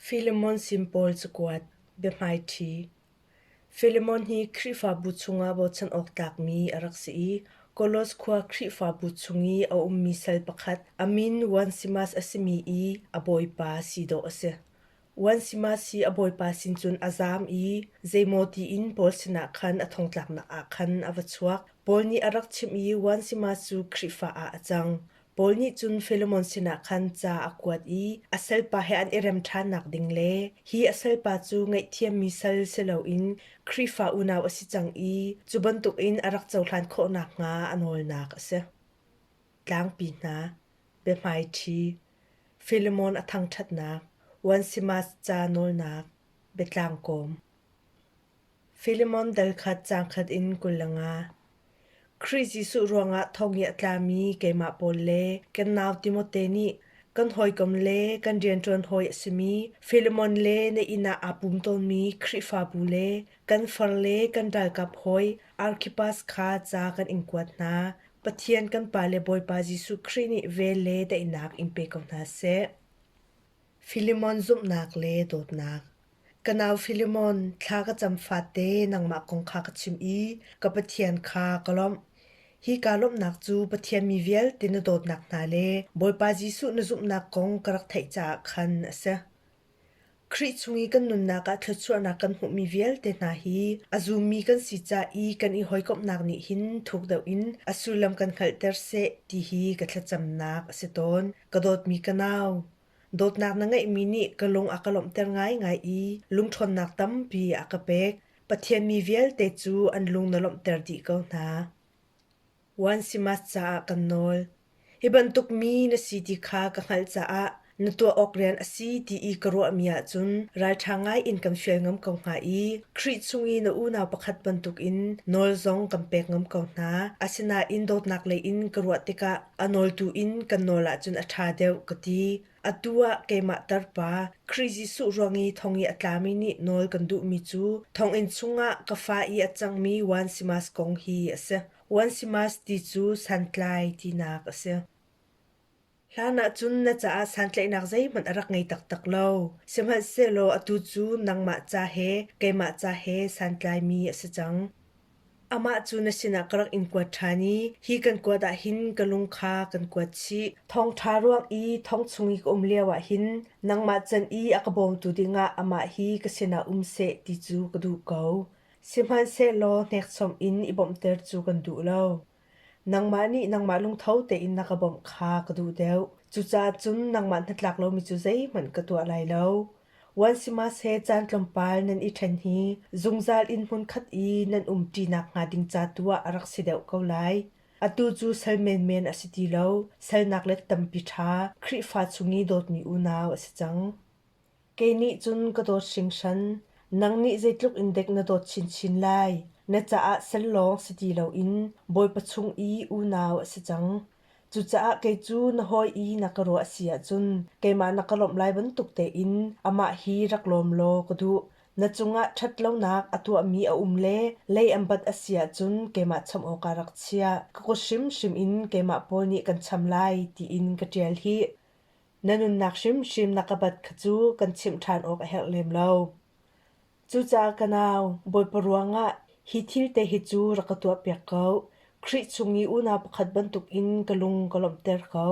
Filemon sin pawl cakuat, biahmaiṭhi. Filemon hi Khrihfabu chungah bochan awk tlakmi a rak si i Kolos khua Khrihfabu chung i a ummi sal pakhat a min Onesimas a simi i a bawipa si dawh a si. Onesimas hi a bawipa sin cun a zaam i zeimaw tiin Paul sinah khan a thongtlaknak ah khan a va chuak. Paul nih a rak chimh i Onesimas cu Khrihfa ah a cang. Paul nih cun Filemon sinah khan ca a kuat i a salpa he an i rem ṭhannak ding le hi a salpa cu ngaihthiammi sal si loin Khrihfa unau a si cang i cu bantukin a rak cohlan khawh nakhnga a nawlnak a si. Tlangpi hna, biahmaiṭhi, Filemon a thangṭhatnak, Onesimas ca nawlnak, biatlang kawm. Filemon dal kha cangkhat in kul a nga. Khrih Jesuh ruangah thongi a tlami keimah pawl le kan nau Timote nih kan hawikom le kan rianṭuan hawi a simi Filemon le na inn ah aa pum tawnmi Khrihfabu le kan farle kan ralkap hawi Arkhipas kha ca kan in kuat hna. Pathian kan Pa le Bawipa Jesuh Khrih nih vel le daihnak in pe ko hna seh. Filemon zumhnak le dawtnak Ka nau Filemon, thla ka cam fate nangmah kong kha ka chim i ka Pathian kha ka lawmh. Hi kaa lawmhnak cu Pathian mi vialte na dawtnak hna le Bawipa Jesuh na zumhnak kong ka rak theih caah khan a si. Khrih chung i kan nunnak ah thluachuahnak kan hmuhmi vialte hna hi a zummi kan si ca i kan i hawikomhnak nih hin thuk deuh in a sullam kan hngalhter seh ti hi ka thlacamnak a si tawn. Ka dawtmi ka nau, Dawtnak na ngeihmi nih ka lung a ka lawmhter ngaingai i lungṭhawnnak tampi a ka pek. Pathian mi vialte cu an lung na lawmhter dih ko hna. Wan Simas caah kan nawl. Hi bantuk mi na si ti kha ka hngalh caah na tuah awk rian a si ti i ka ruahmi ahcun ralṭha ngai in kan fial ngam ko hnga i Khrih chung i na unau pakhat bantukin nawl zong kan pek ngam ko hna. Asinain dawtnak leiin ka ruah tikah A nawltu in kan nawl ahcun a ṭha deuh ka ti. Atu ah keimah tarpa Khrih Jesuh ruang i thong i a tlami nih nawl kan duhmi cu thonginn chungah ka fa i a cangmi Onesimas kong hi a si. Onesimas ti cu santlai tinak a si. Hlan ahcun na caah santlaihnak zeihmanh a rak ngei taktak lo. Sihmanhsehlaw atu cu nangmah ca he keimah ca he santlaimi a si cang. Amah cu na sinah ka rak in kuat ṭhan i hi kan kuat ah hin ka lung kha kan kuat chih. Thawngṭha ruang i thong chung i ka um lioah hin nangmah can i a ka bawmtu dingah amah hi ka sinah um seh ti cu ka duh ko. Sihmanhsehlaw hnekchom in i bawmhter cu kan duh lo. Nangmah nih nangmah lungtho tein na ka bawmh kha ka duh deuh. Cucaah cun nangmah hnatlak lomi cu zeihmanh ka tuah lai lo. Wan sihmahseh caan tlawmpal nan i ṭhen hi zungzal inn hmunkhat i nan umṭinak hnga ding ca tu ah a rak si deuh ko lai. Atu cu sal menmen a si ti lo, salnak let tampi ṭha Khrihfa chung i dawtmi unau a si cang. Kei nih cun ka dawt hringhran. Nang nih zeitluk in dek na dawt chinchin lai. Na caah sel lawng si ti loin Bawipa chung i unau a si cang. Cucaah kei cu na hawi i na ka ruah a si ahcun keimah na ka lawmh lai bantuk tein amah hi rak lawm law ka duh. Na cungah ṭhatlonak a tuahmi a um le lei an bat a si ahcun keimah chawmh awkah rak chiah. Ka kut hrimhrim in keimah pawl nih kan cham lai tiin ka ṭial hih. Na nunnak hrimhrim na ka bat kha cu kan chimh ṭhan awk a herh lem lo. Cucaah ka nau, Bawipa ruangah hi thil te hi cu rak ka tuahpiak ko. Khrih chung i unau pakhat bantukin ka lung ka lawmhter ko.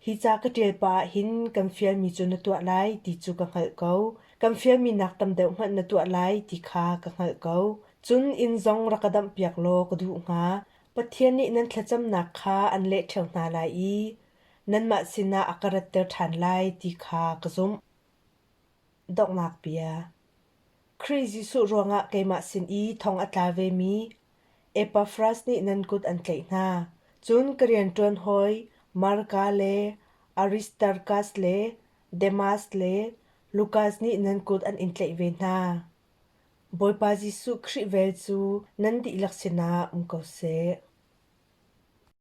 Hi ca ka ṭial pah ah hin kan fialmi cu na tuah lai ti cu ka hngalh ko. Kan fialmi nak tam deuh hmanh na tuah lai ti kha ka hngalh ko. Cun inn zong rak ka damhpiak law ka duh hnga. Pathian nih nan thlacamnak kha an leh ṭheo hna lai i nanmah sinah a ka ratter ṭhan lai ti kha ka zumh. Donghnak bia Khrih Jesuh ruangah keimah sin i thong a tla vemi Epafras nih nan kut an tlaih hna. Cun ka rianṭuan hawi Marka le Aristarkas le Demas le Lukas nih nan kut an in tlaih ve hna. Bawipa Jesuh Khrih vel cu nan dihlak sinah um ko seh.